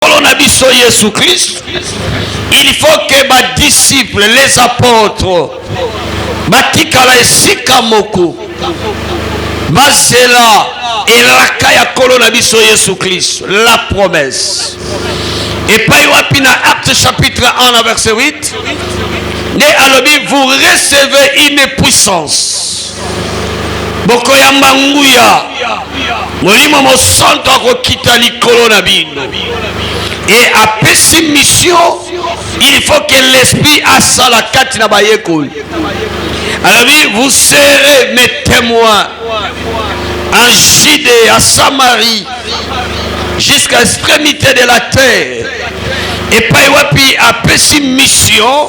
nkolo na biso yesu kristu il faut ke badisiple les apotres batikala esika moko bazela elaka ya nkolo na biso yesu kristu la promesse epai wapi na acte chapitre 1 na verset 8 nde alobi vous recevez une puissance bokoyamba nguya molimo mosanto akokita likolo na bino e apesi misio il faut que l'esprit asala kati na bayekoli alobi vous serez mes témoins en judée à samarie jusqu'à extrémité de la terre epai wapi apesi mission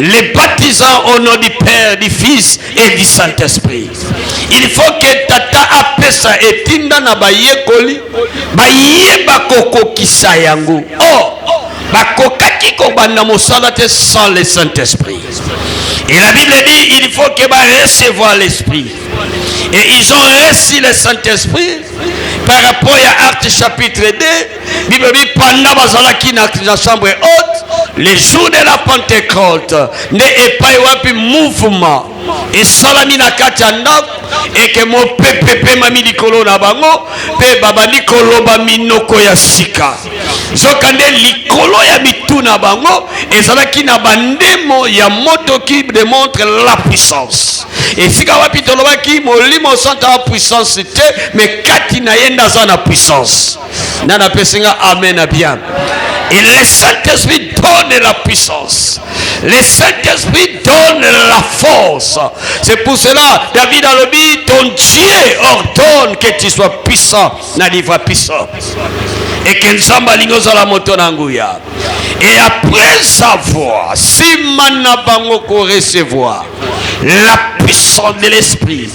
les baptisants au nom du Père, du Fils et du Saint-Esprit. Il faut que tata apesa etinda na bayekoli bayeba kokokisa yango. Oh, bakokaki kobanda mosala te sans le Saint-Esprit. Et la Bible dit il faut que va recevoir l'Esprit. Et ils ont reçu le Saint-Esprit par rapport à Actes chapitre 2 bible elobi panda bazalaki na, na chambre haute le jour de la pentecote nde epai wapi mouvement esalami na kati ya ndako eke mopepe epemami likolo na bango mpe babandi koloba minoko ya sika nzoka nde likolo ya mitu na bango ezalaki na bandemo ya moto qui demontre la puissance esika wapi tolobaki molimo santo ya puissance te me kati na ye nde aza na puissance nana apesi nga amen na bien et le saint-esprit donne la puissance le saint-esprit donne la force c'est pour cela david alobi ton dieu ordonne que tu sois puissant na livre puissant et que nzambe alingi ozala moto na nguya et après avoir nsima na bango korecevoir la puissance de l'esprit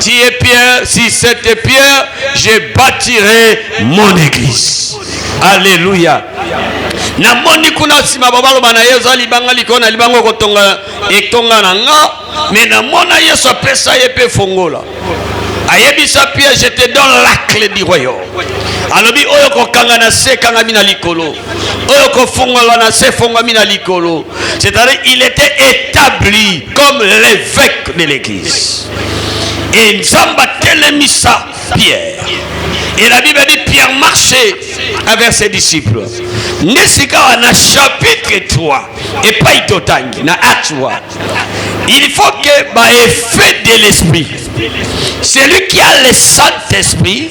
Tu es Pierre, si c'était Pierre, je bâtirai mon église. Alléluia. namoni kuna nsima babaloba na ye oza libanga likolo na libanga okotonga etonga na nga me namona yesu apesa ye mpe fongola ayebisa pierre je te donne la clé du royaume alobi oyo kokanga na se ekangami na likolo oyo kofungolwa na se efongwami na likolo c'est-à-dire il était établi comme l'évêque de l'église et nzambe atelemisa pierre et la bible dit pierre marchait avec ses disciples nde sikawa na chapitre 3 epai totangi na acte il faut que baeffet de l'esprit celui qui a le saint esprit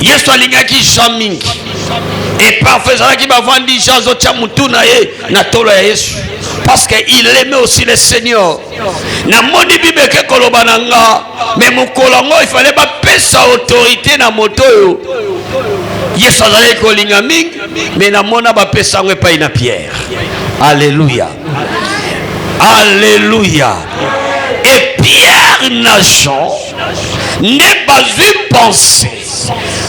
yesu alingaki jean mingi e parfois ezalaki bavandi jean azotya motu na ye na tolo ya yesu parce que il aime aussi le seigneur namoni bible eke koloba na nga me mokolo yango ifale bapesa autorité na moto oyo yesu azalaki kolinga mingi me namona bapesa yango epai na pierre alleluya alleluya e pierre na jean nde bazwi pense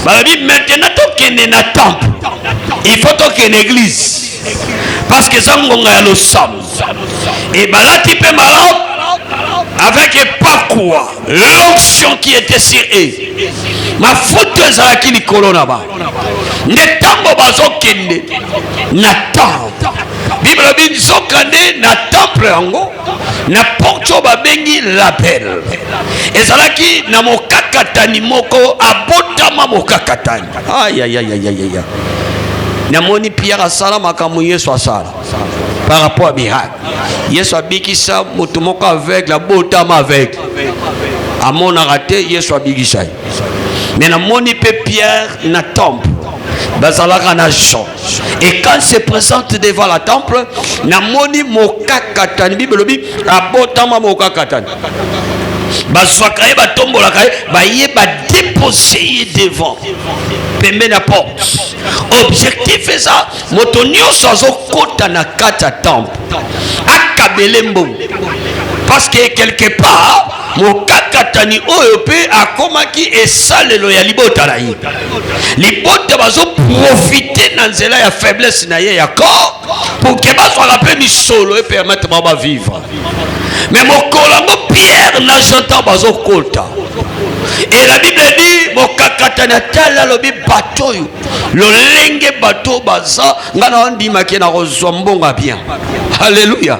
balobi maintenant tokende na temple il faut tokende église parce que eza ngonga ya losambo ebalati mpe malamu avec epakwa l'onction qui était sur eux mafuta ezalaki likolo na bango nde ntango bazokende na temple bible elobi nzokande na temple yango na porte oyo babengi label ezalaki na mokakatani moko abotama mokakatani ayayayayaya namoni pierre asala makambo yesu asala par rapport à miracle yesu abikisa moto moko aveugle abotama aveugle amonaka te yesu abikisa ye me namoni mpe pierre na temple bazalaka na jean Et quand il se présente devant la temple, namoni mokakatani, Bible lobi, abotama mokakatani. bazwaka ye batombolaka ye baye badepose ye devant pembe na porte objectif eza moto nyonso azokɔta na kati ya temple akabele mbongo parce que quelque part mokakatani oyo mpe akomaki esalelo ya libota na ye libota bazoprofite na nzela ya faiblesse na ye ya corps poke bazwaka mpe misolo epermete bango bavivre me mokolo yango pierre na jean ntango bazokota et la bible dit mokakatani atali alobi bato oyo lolenge bato baza ngai naondimaki nakozwa mbongo ya bien alleluya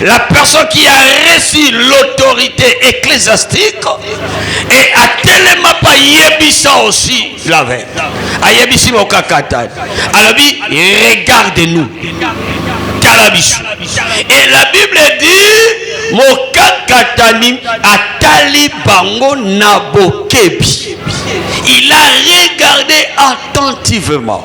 La personne qui a reçu l'autorité ecclésiastique et atelema pa yebisa aussi la veille. Ayebisi mokakatani. Alobi regarde-nous. Tala biso. Et la Bible dit mokakatani atali bango na bokebi. Il a regardé attentivement.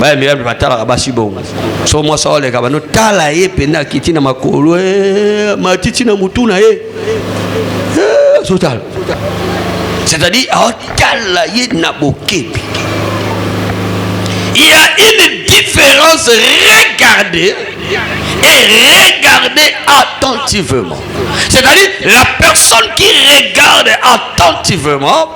baya mibali batalaka basi bongo so mwasi aoleka bano tala ye mpenza akiti na makolo eh, matiti na motu na ye eh, azotala c'est-à-dire aotala ye na bokebi il y a une différence regardez et regardez attentivement c'est-à-dire la personne qui regarde attentivement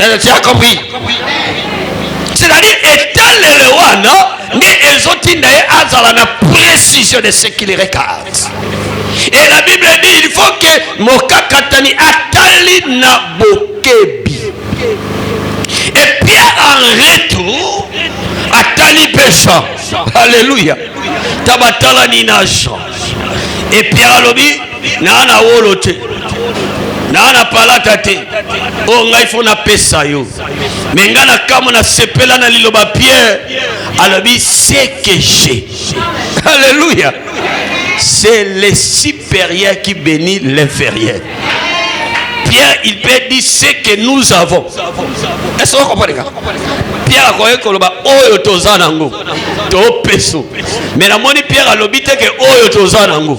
Eh, tu as compris c'est-à-dire etalele wana nde ezotinda ye azala na précision de ce qu'il regarde et la bible dit il faut que mokakatani atali na bokebi et pierre en retour atali mpe jean alleluya tabatalani na jean et pierre alobi naa na wolo te naa na palata te oyo oh, ngai fo napesa yo me ngai na kamwe nasepela na liloba pierre alobi seke je alleluya c'est le supérieur qui bénit l'inférieur Pierre, il peut dire ce que nous avons. Est-ce que vous comprenez Pierre akoki koloba oyo toza nango to peso. Mais namoni Pierre alobi te que oyo toza nango.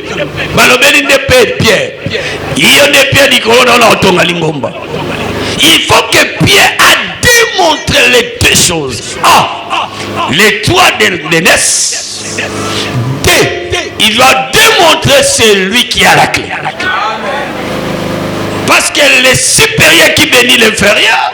balobeli nde pe pierre iyo nde pierre likolo na ona otonga lingomba il faut que pierre a démontre les deux choses ah les trois de naissance deux il doit démontrer celui qui a la clé parce que le supérieur qui bénit l'inférieur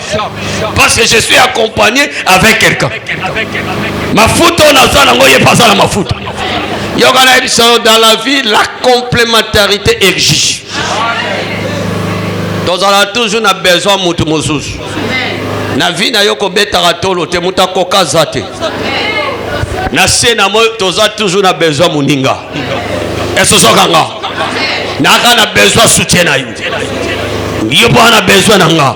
parce que je suis accompagné avec quelqu'un mafuta oyo naza nango ye mpe aza na mafuta yoka nayebi solo dans la vie la complémentarité exige tozala toujours na besoin motu mosusu na vie na yo kobetaka tolo te moto akoka aza te na se na moi toza toujours na besoin moninga esosoka nga naka na besoin soutien na yo yo mpo wana besoin na nga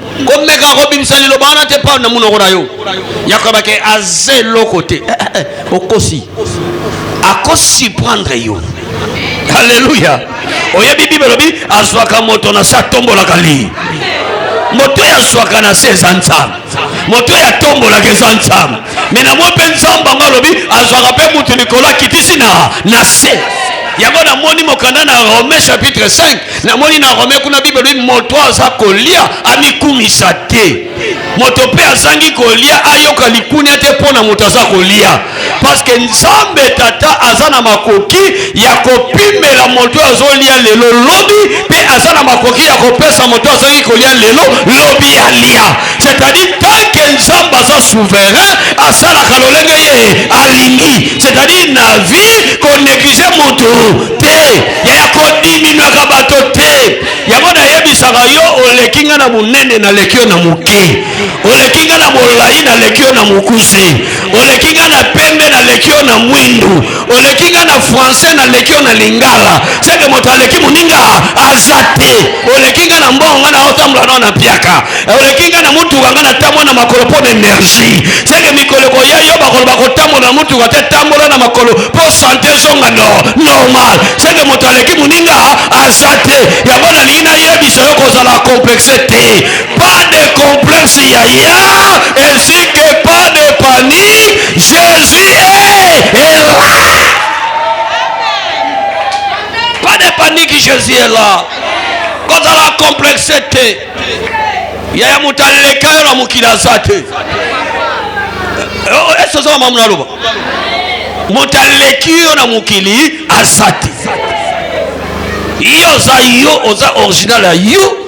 komeka kobimisa liloba wana te pao na monoko na yo yakobake aza eloko te eh, eh, eh, okosi akosurprendre yo aleluya oyebi bible elobi azwaka moto na se atombolaka li moto oyo azwaka na se eza nzambe moto oyo atombolaka eza nzambe me na mwa mpe nzambe yango alobi azwaka mpe moto likolo akitisi na na se yango namoni mokanda na rome chapitre 5 namoni na rome kuna bible elobi moto aza kolia amikumisa te moto mpe azangi kolia ayoka likunia te mpo na moto aza kolia parceke nzambe tata aza na makoki ya kopimela moto oyo azolia lelo lobi mpe aza na makoki ya kopesa moto azangi kolia lelo lobi alia c'est-à-dire tant que nzambe aza souverain asalaka lolenge ye alingi c'est-à-dire na vie konéglige motu te yaya kodiminuaka bato te yango nayebisaka yo oleki nga na monene naleki yo na moke oleki nga na molai naleki yo na mokuse oleki nga na pembe naleki yo na mwindu oleki nga na français naleki yo na lingala seke moto aleki moninga aza te oleki nga na mbongo nga naotambola nao na piaka eh, oleki nga na motuka nga natambola na makolo mpo na energie seke mikolo ekoya yo bakoloba kotambola na motuka te tambola na makolo mpo sante ezonga no normal seke moto aleki moninga aza te yango nalingi nayebisa yo kozala complexe te Pas de complexe yaya, ainsi que pas de panique, Jésus est, est là. Pas de panique, Jésus est là. kozala complexe te yaya moto aleka yo na mokili aza te esi oza mamamu naloba moto aleki yo na mokili aza te yo oza yo oza original ya yo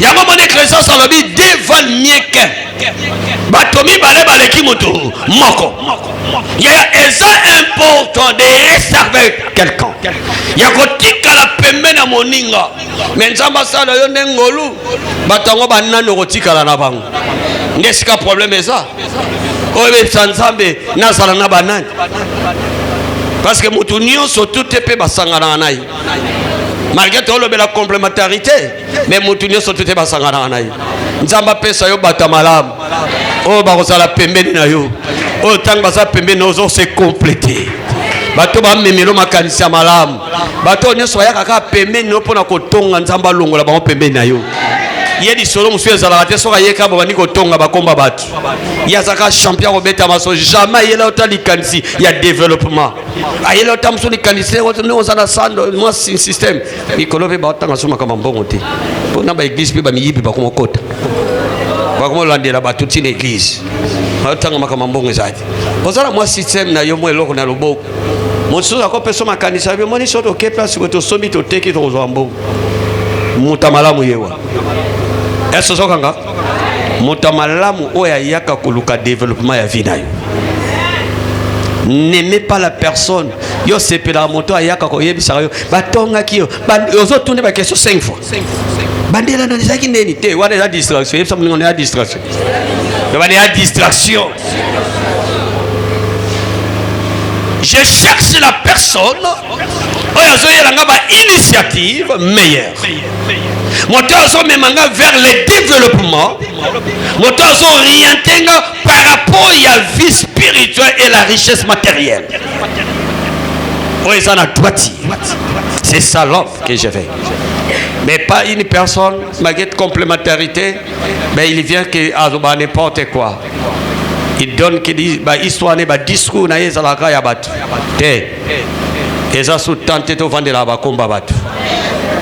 yango moni eklesias alobi deux valent mieux qu'un bato mibale baleki moto moko yaya eza important de reserve quelqu'un ya kotikala pembe na moninga me nzambe asala yo nde ngolu bato yango banani okotikala na bango nde esika probleme eza oyo ebebisa nzambe nazala na banani parce que moto nyonso tute mpe basanganaka na ye malgre tolobela complementarité mais mutu nyonso te te basanganaka na ye nzambe apesa yo bata malamu oyo bakozala pembeni na yo oyo ntango baza pembeni na ozo se complete bato bamemelo makanisi ya malamu bato oyo nyonso bayaka kaka pembeni na yo mpo na kotonga nzambe alongola bango pembeni na yo ye lisolo mosusu ezalaka te soki ayeka babandi kotonga bakomba bato ye azalaka champion kobeta maso jamais ayela ota likanisi ya developpement ayela ata mosusu likanisi nde oza na sando mwa système mikolo mpe batanga so makambo mbongo te mpo na baeglise mpe bamiyibi bakoma kota bakoma olandela bato ntina eglise batanga makambo mbongo ezali oza na mwa système na yo mwa eloko na loboko mosusu akopesa makanisi ayo moni so toke place boye tosombi toteki tokozwa mbongo moto malamu yewa eso ozokanga moto ya malamu oyo ayaka koluka developpement ya vie na yo n'aimez pas la personne yo osepelaka moto ayaka koyebisaka yo batongaki yo ozotuna bakestion 5 fois bandela nani ezalaki ndeni te wana eza distraction yebisa moninga eza distraction wana eza distraction je cherche la personne oyo azoyela nga ba initiative meilleure moto azomema nga vers le développement moto azoriente nga par rapport ya vie spirituelle et la richesse matérielle oyo eza na droiti c'est ça l'homme que je vais mais pas une personne malgré complémentarité mais il vient que azoba ah, n'importe quoi il donne que bah, histoire ne ba discours na ye ezalaka ya bato te eza su temps te tovandela bakomba bato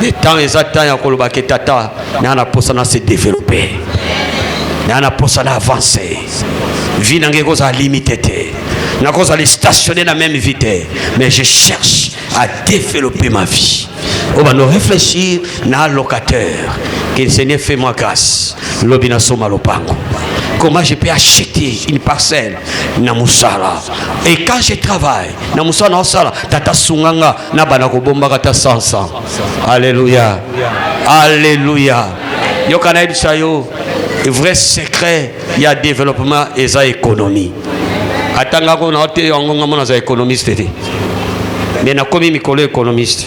le temps eza temps ya koloba ke tata naa na posa na se développer naa na posa na avancer vie na ngai ekozala limite te nakozala stationne na même vie te mais je cherche à développer ma vie oyo bando réfléchir na locataire que le seigneur fait moi grâce lobi nasomba lopango comment je peux acheter une parcelle na musala et quand je travaille na musala na sala tata sunganga na bana ko bombaka ta 100 alléluia alléluia yoka na yebisa yo vrai secret ya développement eza économie atanga ko na te yango ngamona za économiste te mais nakomi mikolo économiste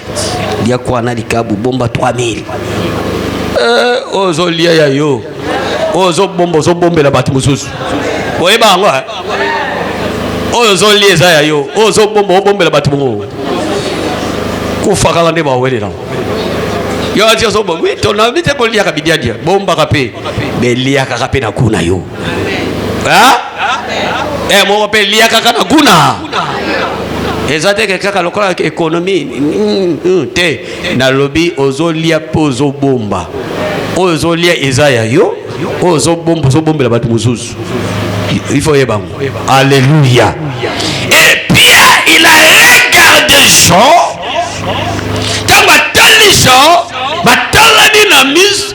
lia kwa na likabu bomba 3000 eh, ozolia ya yo oyo ozobomba ozobombela bato mosusu oyeba yango eh? oyo ozolia eza ya yo oyo ozobomba obombela bato mongo kufakaka nde bawelela yo ati ozobomba wi tonabi te koliaka bidiadia bombaka mpe beliakaka mpe na kuna yo Eh, moko mpe lia kaka na guna eza teke kaka lokola ekonomi mm, mm, te nalobi ozolia mpe ozobomba oyo ozolia eza ya yo oyo ozobomba ozobombela bato mosusu ifo oyeba yango alleluya epia il a regarde jean ntango atali jean batalani na mise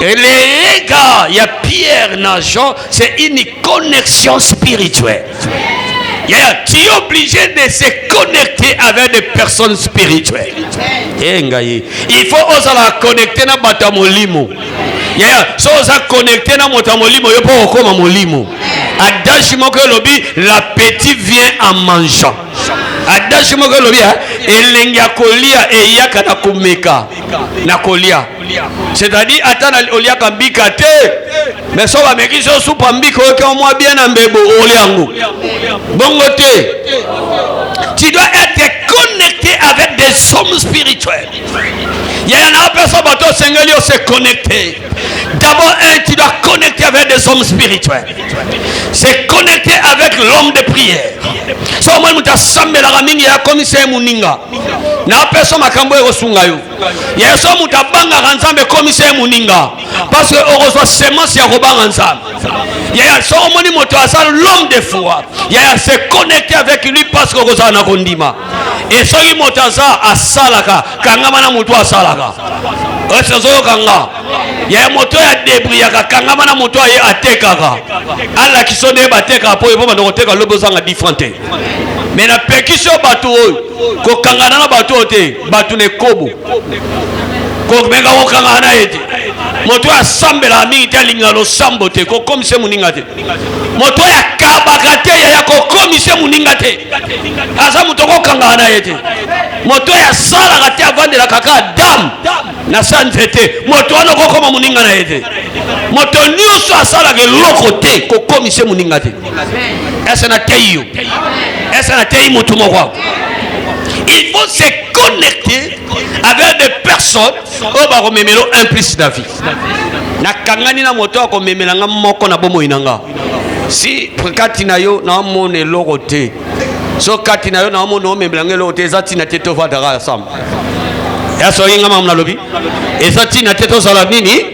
Et les regards, il y a Pierre na Jean, c'est une connexion spirituelle. Yeah, tu es obligé de se connecter avec des personnes spirituelles. Eh, il faut oser la connecter na bata molimo. Yeah, so oza connecter na moto molimo yo pour okoma molimo. Adashi moko lobi la petite vient en mangeant. Adashi moko lobi hein, elengi ya kolia eyaka na komeka na kolia. c'est-à-dire ata na oliaka mbika te mais so bameki so supa mbika oyoki mwa bien na mbebo oli yango bongo te tu dois être connecté avec des hommes spirituels yaya na opesa bato osengeli ose connecte d'abord un tu dois connecter avec des hommes spirituels c'est connecter avec l'homme de prière so omoni moto asambelaka mingi akomisa ye moninga na opesa makambo ekosunga yo yesu moto abangaka nzambe ekomisa ye moninga parce que okozwa semence ya kobanga nzambe yaya soki omoni moto aza l'homme de foi yaya se connecte avec lui parce que okozala na kondima e soki moto aza asalaka kangama na moto asalaka esi ozoyoka nga yaya moto oyo adebriyaka kangama na moto aye atekaka alakisa nde batekaka mpo ye mpo banda koteka lobi ozanga different te me napekisi yo bato oyo kokangana na bato oyo te bato na ekobo komeka kokangana na ye te moto oyo asambelaka mingi te alingaka losambo te kokomisa ye moninga te moto oyo akabaka te yaya kokomisa ye moninga te aza moto okokangaka na ye te moto oyo asalaka te avandelaka kaka dame na sa nzete moto wana okokoma moninga na ye te moto nyonso asalaka eloko te kokomisa ye moninga te ese nateyi yo ese nateyi motu moko il faut se connecter avec des personnes oyo bakomemela un plus na vie nakangani na moto akomemela nga moko na bomoi na nga si kati na yo naomona eloko te so kati na yo naomona omemela nga eloko te eza ntina te tovandaka ya samba ya soki nga mamu nalobi eza ntina te tozala nini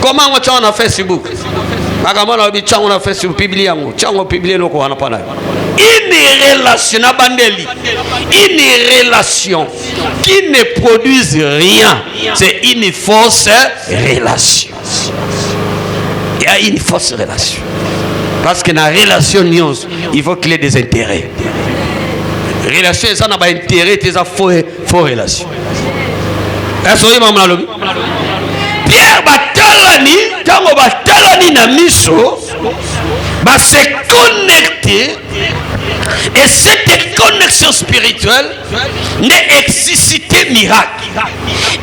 koma yango tyango na facebook makambo wana oyebi tyango na facebook piblie yango tyango piblie eloko wana mpo na une relation na bandeli une relation qui ne produise rien c'est une fausse relation il y a une fausse relation parce que na relation nyonso il faut qu'il y ait des intérêts relation eza na baintérêt te eza faux faux relation est-ce que maman lobi Pierre batalani tango batalani na miso ba se connecter et cette connexion spirituelle n'est excité miracle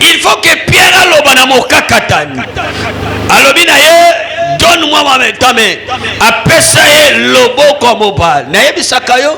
il faut que Pierre aloba na mokakatani alobi na ye donne-moi ma main, ta main. Apesa ye loboko mobali. Nayebisaka yo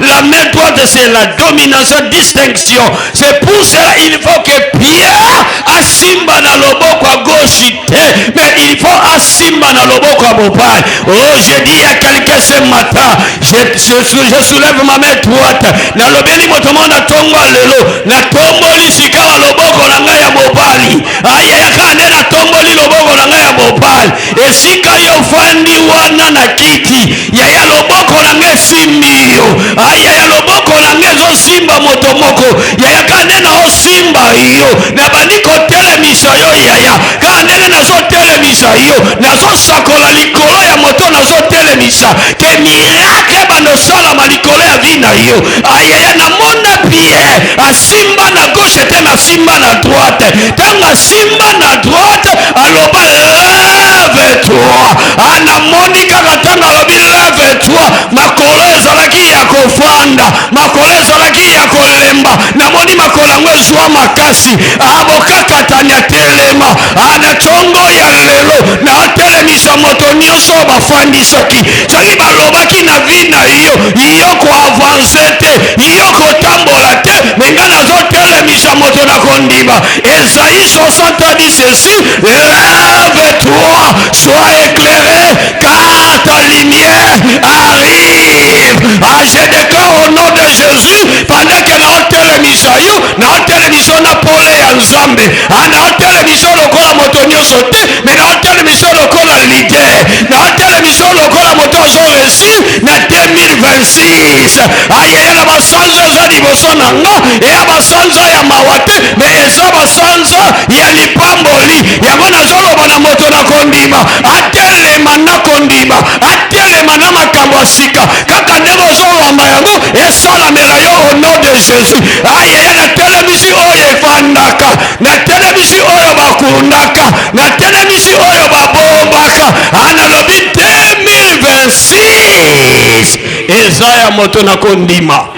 La main droite, c'est la domination, distinction. C'est pour cela il faut que Pierre asimba na loboko à gauche, mais il faut asimba na loboko à mobile. Oh, j'ai dit à quelqu'un ce matin, je, je, je soulève ma main droite. Na lobeli motomo na tongo lelo, na tomboli sikawa loboko na ngai ya mobali. Aya ya kande na tomboli loboko na ngai ya mobali. esika yo ofandi wana na kiti yaya loboko na nga esimbi yo ah, yaya loboko na nga ezosimba moto moko yaya kaka nde naosimba yo nabandi kotelemisa yo yaya kaka ndenge nazotelemisa yo nazosakola likolo ya moto nazotelemisa ke mirakle bandosalama likolo ya vi na yo ayaya ah, namona pie asimba na gauche te nasimba na droite ntango asimba na droite aloba leve toi anamoni kaka ntango alobi leve toi makolo ezalaki ya kofanda makolo ezalaki ya kolemba namoni makolo yango ezwa makasi abokakatani atelema ana congo ya lelo naotelemisa moto nyonso oyo bafandisaki soki balobaki na vi na yo yo koavanse te yo kotambola te menga nazotelemisa kobikisa moto na kondima esaïe 60 a dit ceci lève toi sois éclairé car ta lumière arrive ah, je déclare au nom de jésus pendant que naotelemisa yo naotelemisa yo na pole ya nzambe ah, naotelemisa yo lokola moto nyonso te me naotelemisa yo lokola lider naotelemisa yo lokola moto azo réussir na 2026 ayeye na basanza eza liboso na nga eya basanza ya mawa te me eza basanza ya lipamboli yango nazoloba na moto na kondima atelema na kondima atelema na makambo ya sika kaka ndenge ozowamba yango esalamela yo au nom de jésus ayeye na telemisi oyo efandaka na telemisi oyo bakundaka na telemisi oyo babombaka analobi 2026 Jesus eza ya moto na kondima.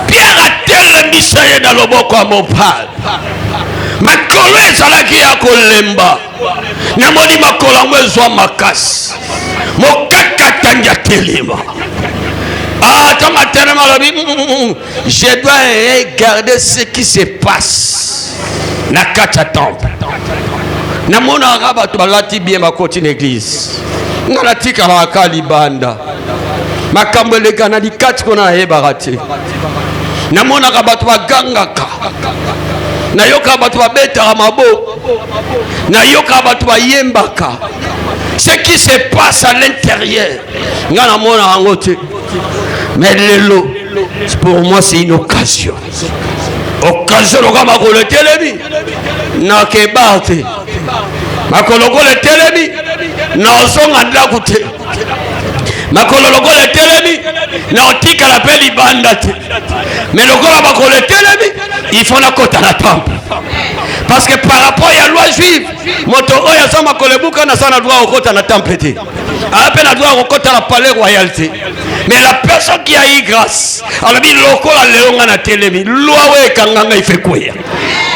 Pierre atelemisa ye na loboko ya mobali. Makolo ezalaki ya kolemba, namoni makolo yango ezwa makasi, mokakatangi atelema. Ah, ntango atelema alobi mm, mm, mm, Je dois regarder ce qui se passe na kati ya temple. Namonaka bato balati bien bakoti na eglize, nga natikalaka libanda, makambo eleka na likati kuna nayebaka te. Namonaka bato bagangaka, nayokaka bato babetaka maboko, nayokaka bato bayembaka ce qui se passe à l'intérieur nga namonaka yango te mais lelo pour moi c'est une occasion occasion lokola makolo etelemi nakeba te makolo lokola etelemi nazonga ndako te makolo lokola etelemi na otikala mpe libanda te me lokola makolo etelemi ifo nakota na temple parce que par rapport ya loi juive moto oyo aza makolo ebuka naza na droit okota na temple te aa mpe na droit ya kokota na palais royal te mais la personne qui a eu grâce alobi lokola lelo ngai natelemi lwa oyo ekanga ngai fe kweya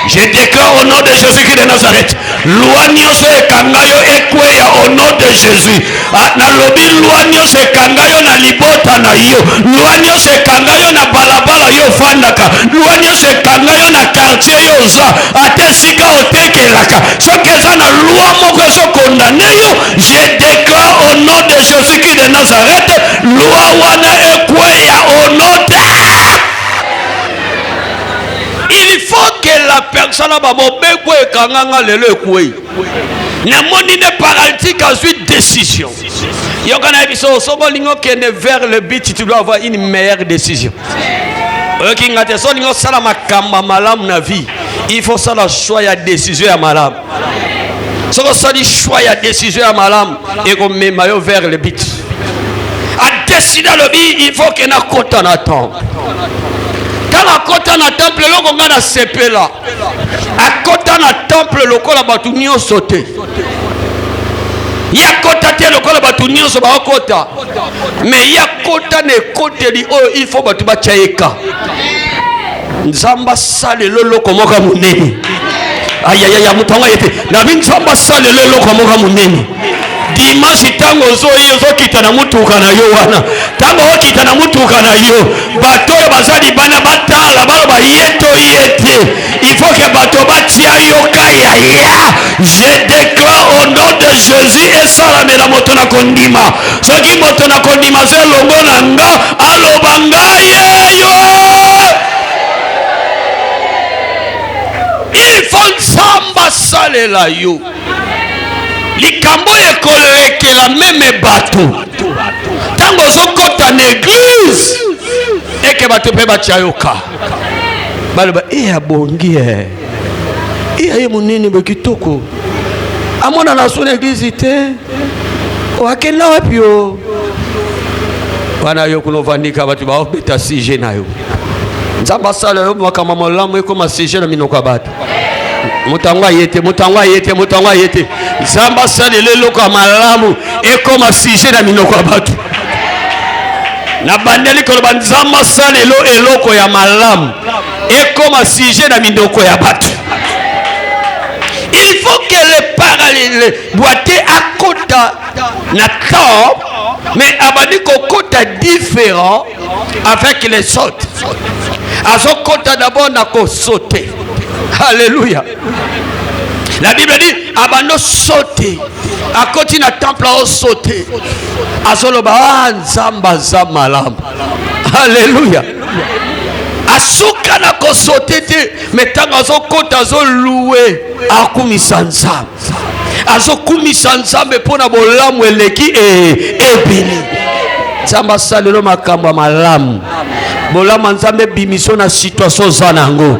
je déclare au nom de jésus christ de nazareth lwa nyonso ekanga yo ekweya au nom de jésus ah, nalobi lwa nyonso ekanga yo na libota na yo lwa nyonso ekanga yo na balabala yo ofandaka lwa nyonso ekanga yo na kartier yo oza ata esika otekelaka soki eza na lwa moko ezokondane yo je déclare au nom de Jésus-Christ de Nazareth, loi wana ekweya au nom de il faut que la personne ba mobeko ekanganga lelo ekwei namoni nde paralytique azwi décision yoka na ye biso soki olingi okende vers le but tu dois avoir une meilleure décision oyoki nga te so olingi osala makambo malamu na vie il faut osala choix ya décision ya malamu soki osali choix ya décision ya malamu ekomema yo vers le but adeside alobi il faut ke nakota na temple ntango akota na temple eloko ngai nasepela akota na temple lokola bato nyonso te ye akota te lokola bato nyonso bakokota me ye akota na ekoteli oyo il faut bato batya ye ka nzambe asala eloloko moko ya monene ayayaya moto yango aye te nabi nzambe asala eloloko moko ya monene dimanche ntango ozoyi ozokita na motuka na yo wana ntango okita na motuka na yo bato oyo baza libanda batala baloba ye to ye te ifoke bato batia yo kaya ya je declare au nom de jésus esalamela moto na kondima soki moto na kondima se elongo na nga aloba ngai yeyo ifo nzambe asalela yo likambo oyo ekolekela meme bato ntango ozokɔta na eglize eke bato mpe batya yoka baloba e abongi e iya ye monene boye kitoko amonana so na eglize te akenda wapi yo wana yo kuna ovandika bato baobeta sujet na yo nzambe asala yo makambo malamu ekoma sujet na minoko ya bato moto yango aye te moto yango aye te moto yango aye te nzambe asalela eloko ya malamu ekoma sujet na minoko ya bato nabandeli koloba nzambe asalelo eloko ya malamu ekoma sujet na mindoko ya bato il faut que le parallèle boite akota na temps mais abandi kokota différent avec les autres azokota d'abord na kosote alléluia la bible dit abando sote akoti na temple aosote azoloba ah, nzambe aza malamu Alléluia. asuka na kosote te me ntango azokota azoluwe akumisa nzambe azokumisa nzambe mpo na bolamu eleki e, ebele nzambe asalelo makambo ya malamu bolamu ya nzambe ebimiso na situatio oza na yango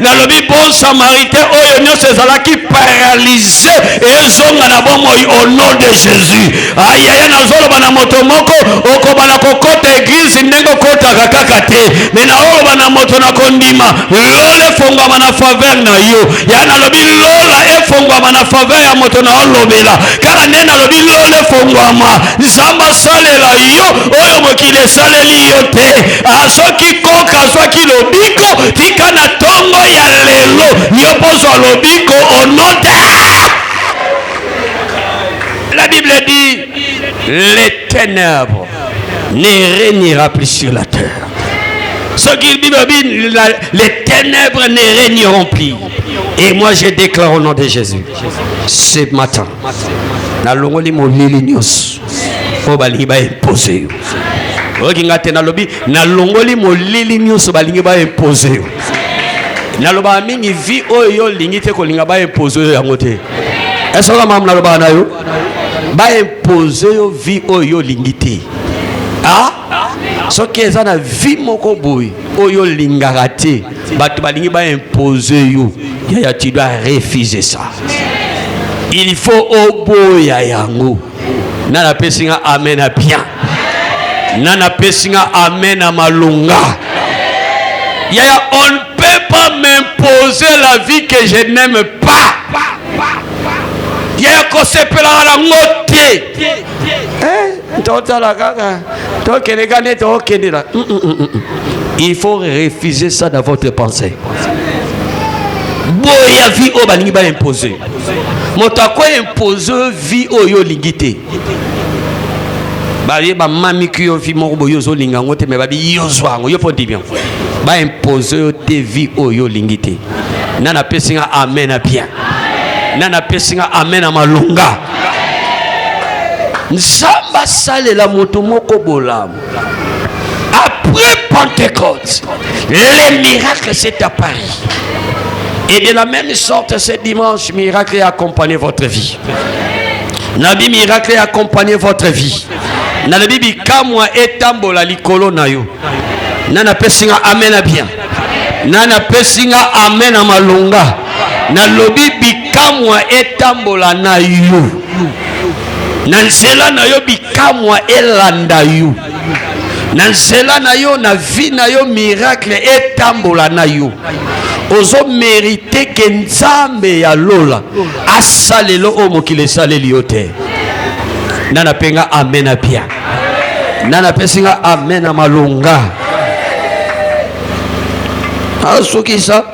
nalobi bon samaritain oyo nyonso ezalaki paralyse ezonga na bomoi au nom de jésus ayaya nazoloba na moto moko okoba na kokota eglize ndenge okotaka kaka te me naoloba na moto na kondima lola efongwama na faveur na yo ya nalobi lola efongwama na faveur ya moto na olobela kaka nde nalobi lola efongwama nzambe asalela yo oyo mokili esaleli yo te azoki koka azwaki lobiko tika na ntongo ya lelo yo pozwa lobiko onote la bible dit les ténèbres ne régnera plus sur la terre Ce qu'il dit, les ténèbres ne régneront plus. Et moi, je déclare au nom de Jésus, ce matin, na longoli molili nyonso mpo balingi baimpose yo oyoki ngai te nalobi nalongoli molili nyonso balingi baimpose yo nalobaka mingi vi oyo yo olingi te kolinga baimpose yo yango te esoka mamu nalobaka na yo baimpose yo vi oyo yo olingi te ah? soki eza na vi moko boye oyo olingaka te bato balingi baimpose yo yaya tu dois refuser ça il faut oboya yango nani apesi nga amen ya bien nani apesi nga amen ya malonga yaya on ne peut pas m'imposer la vie que je n'aime pas yaya kosepelaka nango te eh, totala kaka tokende ka nde tokendela mm, mm, mm, il faut refuser ça dans votre pensée boya vie oyo balingi baimpose moto akoimpose vie oyo yo olingi te baye bamamiki yo vie moko boye ozolinga yango te me babi yo zwa yango yo mpo ndimi yango baimpose yo te vie oyo yo olingi te nani apesi nga amen na bien nani apesi nga amen na malonga nzambe asalela moto moko bolamu Après Pentecôte, les miracles s'est apparu. Et de la même sorte, ce dimanche, miracle a accompagné votre vie. Nabi miracle a accompagné votre vie. Nabi bikamwa etambola likolo na yo. Nana pesinga amen bien. Nana pesinga amen amalonga. Nalobi bikamwa etambola na yo na nzela na yo bikamwa elanda yo na nzela na yo na vie na yo miracle etambola na yo ozo merite ke nzambe ya lola asalelo oyo mokili esaleli yo te nana mpe nga amen na bia nana apesi nga amen na malonga asukisa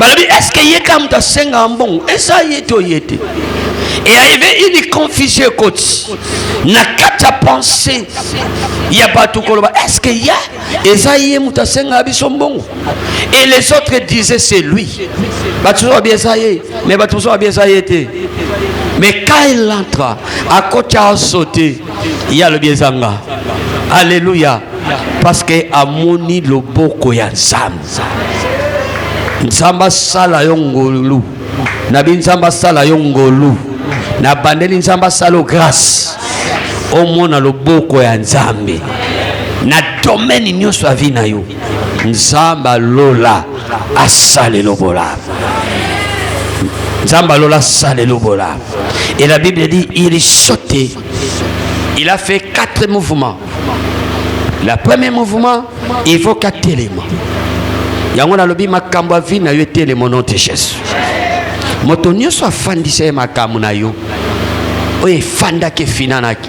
balobi eske ye kaka moto asengaka mbongo eza ye to ye te eyaive ini confusion ekoti na kati ya pense ya bato koloba eske ya eza ye moto asengaka biso mbongo et les autres disaient c'est lui bato mosusu babi eza ye mais bato mosusu babi eza ye te mais quand il entra akoti asote ye alobi eza nga alleluya parce que amoni loboko ya nzambe nzambe asala yo ngolu nabi nzambe asala yo ngolu nabandeli nzambe asala yo grâce omona loboko ya nzambe na domaine nyonso ya vi na yo nzambe alola asalelo bolamu nzambe alola asalelo bolamu et la bible dit il sautait il a fait quatre mouvements la premier mouvement il faut ka telema yango nalobi makambo ya vie na yo etelema nom de jesus moto nyonso afandisa ye makambo na yo oyo efandaki efinanaki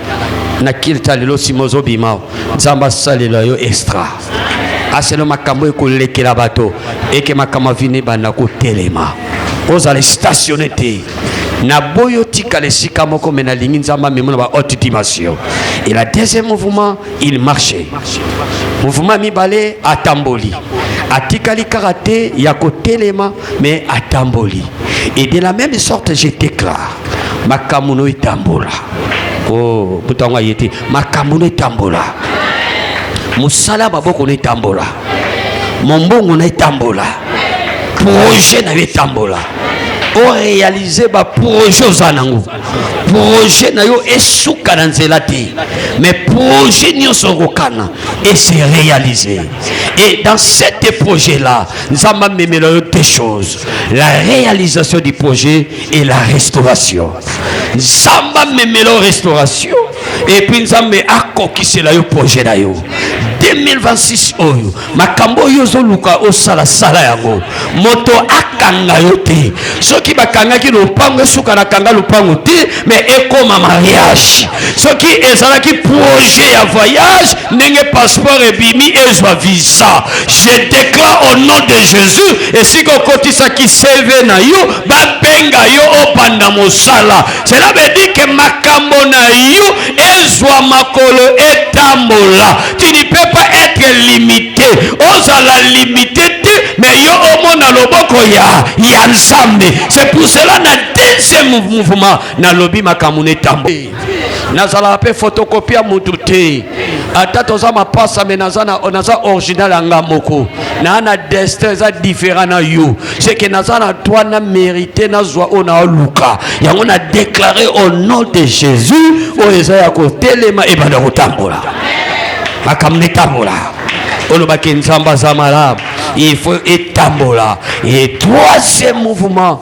na kilta lelo nsima ozobima nzambe asalela yo extra aseno makambo ekolekela bato eke makambo avini ebanda kotelema ozala statione te naboyi otikala esika moko me nalingi nzambe amema na ba haute dimension et la deuxième mouvement il marche mouvement mibale atamboli atikali kaka te ya kotelema mais atamboli et de la même sorte je déclare makambo no etambola o oh, moto yango aye te makambo no etambola mosala ya maboko no etambola mombongo na etambola projet na yo etambola orealize baprojet oza nango projet na yo esuka na nzela te mais projet nyonso okokana ese réalise et dans cet projet là Nzamba amemela yo deux choses la réalisation du projet et la restauration Nzamba amemela restauration et puis nzambe akokisela yo projet na yo 2026 oyo makambo oyo ozoluka osala sala yango moto akanga yo te soki bakangaki lopango esuka na kanga lopango te mais ekoma mariage soki ezalaki projet ya voyage ndenge passeport ebimi ezwa visa je déclare au nom de jésus esika okotisaki cv na yo babenga yo obanda mosala cela veut dire que makambo na yo ezwa makolo etambola tu ne peux pas être limité ozala limité te mais yo omona loboko ya ya nzambe c'est pour cela na deuxième mouvement nalobi makambo na etambo nazalaka mpe fotokopi ya motu te ata toza mapasa me naza, na, naza original ya nga moko naa na destin eza différent na yo seke naza na toi na mérité nazwa oyo naoluka yango na déclare au nom de jésus oyo eza ya kotelema ebanda kotambola makambo netambola olobaki nzambe aza malamu il faut etambola et troisième mouvement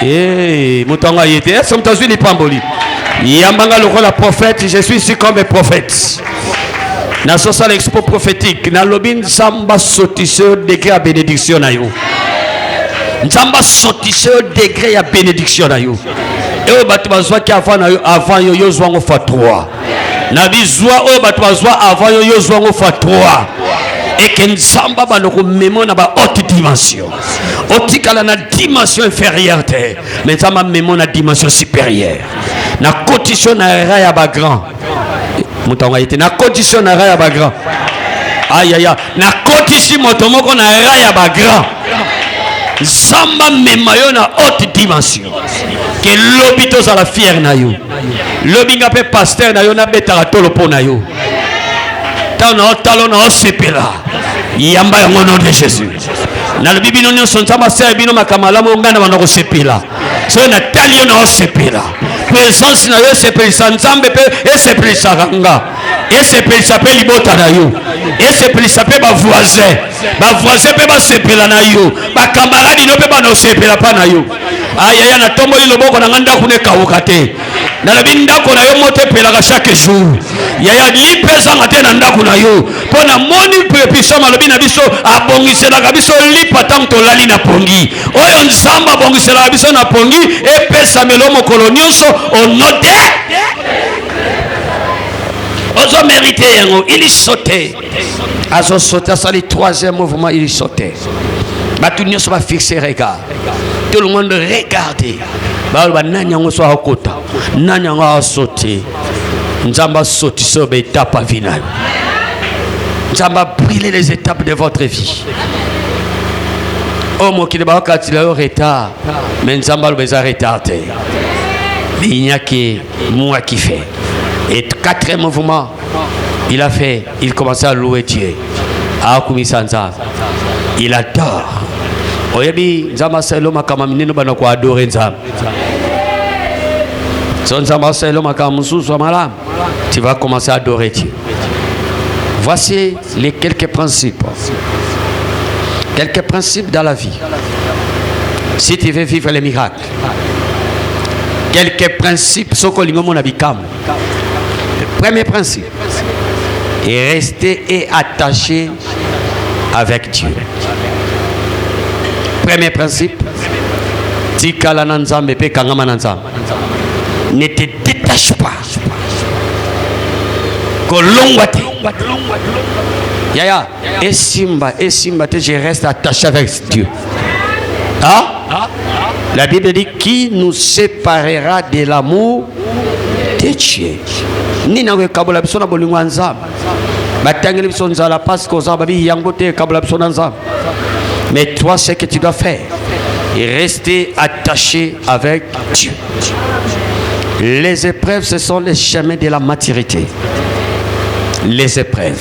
Hey, moto yango aye te ese moto azwi lipamboli yamba nga lokola prophète je suis ici comme prophète nasosala expo prophétique nalobi nzambe asotise yo degre ya bénédiction na yo nzambe asotise yo degre ya bénédiction na yo eoyo bato bazwaki avant na yo avant yo yo zwa yango fa 3 na bizwa oyo bato bazwa avant yo yo zwa yango fa 3 eke nzambe abanda komema na bahaute dimension otikala na dimension inférieure te me nzambe amemo na dimension supérieure na cotition na era ya bagrand moto yango aye te na cotition na era ya bagrand ayaya na kotisi moto moko na era ya bagrand nzambe amema yo na haute dimension ke lobi tozala fiere na yo lobi nga mpe paster na yo nabetaka tolo mpo na yo ntango na otalo na osepela yamba yango nom de jésus nalobi bino nyonso nzambe asala bino makambo malamu ngai na banda kosepela soki natali yo naosepela presence na yo esepelisa nzambe mpe esepelisaka nga esepelisa mpe libota na yo esepelisa mpe bavoisin bavoisin mpe basepela na yo bakamaradi no mpe bana osepela mpa na yo ayaya natomboli loboko na ngai ndako nekawuka te nalobi ndako na yo moto epelaka chaque jour yaya lipa ezanga te na ndako na yo mpo namoni prepisoma alobi na biso abongiselaka biso lipa ntango tolali na pongi oyo nzambe abongiselaka biso na pongi epesamelo mokolo nyonso onote ozomerite yango iliso te azo saute asali troisième mouvement il saute bato nyonso bafixe regard tout le monde regarde baloba nani yango so akota nani yango asote nzambe asotisa oyo baetape avi na yo nzambe abrile les étapes de votre vie oyo oh, mokili bakokatila yo retard me nzambe aloba eza retard te minyaki mwaki fe et quatrième mouvement il a fait il commence à louer Dieu akumisa nzambe il adore oyebi nzambe asalelo makambo minene bana koadore nzambe so nzambe asalelo makambo mosusu ya malamu tu vas commencer à adorer Dieu voici les quelques principes quelques principes dans la vie si tu veux vivre les miracles quelques principes soko olingi omona bikamwa Le premier principe est rester et attaché avec Dieu. Premier principe, tikala na Nzambe pe kangama na Nzambe. Ne te détache pas. Kolongwa te. Yaya, Esimba, esimba te, je reste attaché avec Dieu. Hein? La Bible dit qui nous séparera de l'amour de Dieu. Nini akokabola biso na bolingo ya Nzambe? Batangeli biso nzala parce que oza babi yango te ekabola biso na Nzambe. Mais toi ce que tu dois faire et rester attaché avec Dieu. Les épreuves, ce sont les chemins de la maturité. Les épreuves.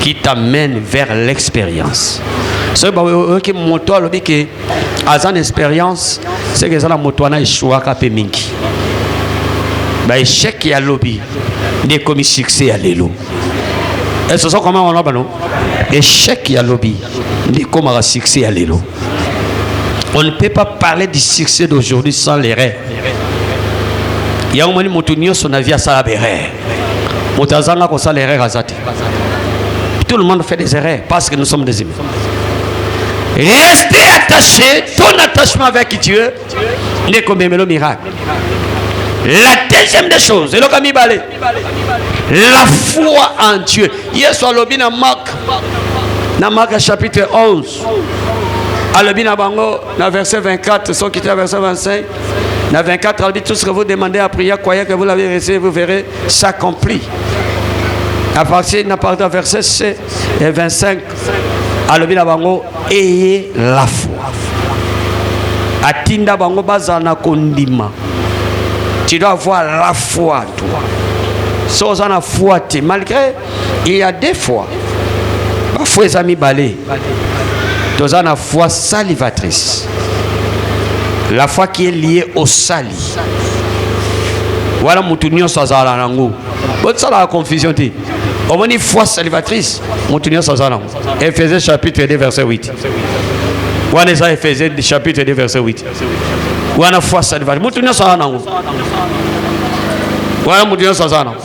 qui t'amène vers l'expérience soki bayoki moto alobi ke aza na expérience seke eza na moto wana eshuaka mpe mingi baechec ya lobi nde ekomi succès ya lelo ese oza koma wana bano echec ya lobi nde ekomaka succès ya lelo on ne peut pas parler du succès d'aujourd'hui sans l'erreur yango moni moto nyonso na vie asala berere moto azanga kosala erreur aza te tout le monde fait des erreurs parce que nous sommes des humains rester attaché ton attachement avec dieu nde komemelo miracle la deuxième des choses eloka mibale la foi en dieu yesu alobi na mark na mark chapitre 11 alobi na bango na verset 24 soki te verset 25 na 24 alobi tout ce que vous demandez à prière croyez que vous l'avez reçu vous verrez s'accomplit à partir na partir verset c et 25 alobi na bango eye la foi atinda bango bazala na kondima tu dois avoir la foi toi soki oza na foi te malgré il y a deux fois ba fois eza mibale toza na foi salivatrice la foi qui est liée au sali wana motu nyonso azala nango bosalaka confusion te omoni foi salivatrice motu nyonso aza nango efese chapitre 2 verset 8 wana eza efese chapitre 2 verset 8 wana foi salvage mutu nyonso aza nango wana mutu nyonso aza nango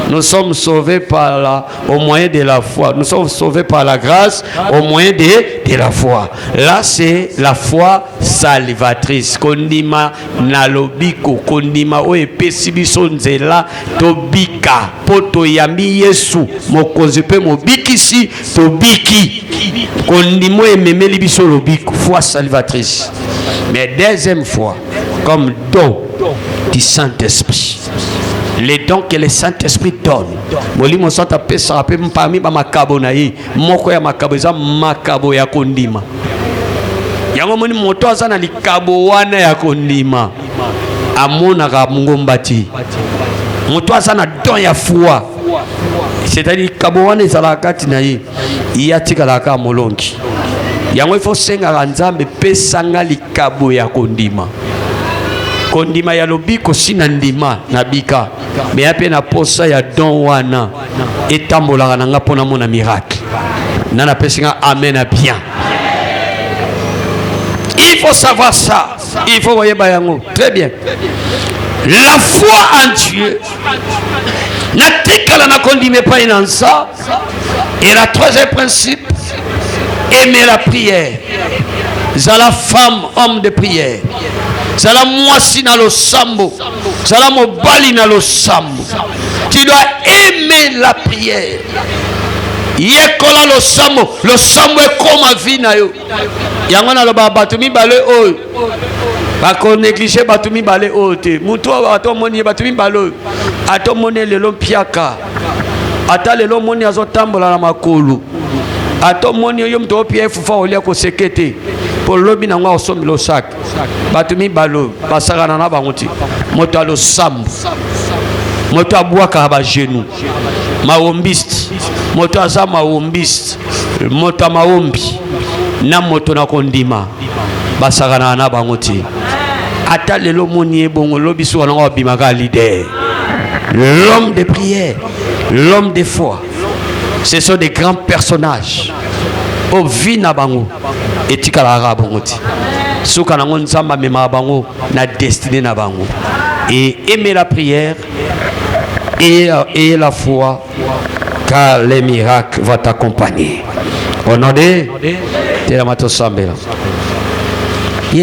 nous sommes sauvés par la, au moyen de la foi nous sommes sauvés par la grâce au moyen de, de la foi là c'est la foi salvatrice kondima na lobiko kondima oyo epesi biso nzela tobika mpo toyambi yesu mokonzi mpe mobikisi Tobiki. Kondimo ememeli biso lobiko, foi salvatrice. Mais deuxième fois, comme don du Saint-Esprit. Les dons que le Saint-Esprit donne. Molimo Santo apesaka mpe parmi bamakabo na ye moko ya makabo eza makabo ya kondima yango moni moto aza na likabo wana ya kondima amonaka mongomba te moto aza na don ya foi c'est-à-dire likabo wana ezalaka kati na ye ye atikalaka kaka molongi yango ifo osengaka nzambe pesa nga likabo ya kondima kondima ya lobiko si na ndima na bika meya mpe na posa ya don wana etambolaka na nga mpo namona miracle na napesi nga amen ya bien il faut savoir ça Il faut voyez Bayango. Très bien. La foi en Dieu. La tikala na kondime pas inansa. Et la troisième principe, aimer la prière. Zala femme, homme de prière. Zala moisi na lo sambo. Zala mobali na lo sambo. Tu dois aimer la prière. Yekola lo sambo. Lo sambo est comme vie na yo. yango naloba bato mibale oyo bakoneglige bato mibale oyo te motu oyo ata omoni ye bato mibale oyo ata omoni ye lelo mpiaka ata lelo omoni azotambola na makolo ata omoni yo moto opia efufa olia koseke te mpo lobi na yango akosombela osaka bato mibale oyo basakana na bango te moto ya losambo moto abwakaka bagenu mawombiste moto aza mawombiste moto ya mawombi na moto na kondima basakanaka na bango te ata lelo omoni ye bongo lobi suka nango abimaka leader l'homme de prière l'homme de foi ce sont des grands personnages oyo vie na bango etikalaka bongo ti suka nango nzambe amemaka bango na destine na bango et aimer la prière et, et la foi car les miracles vont t'accompagner au nom de telama tosambela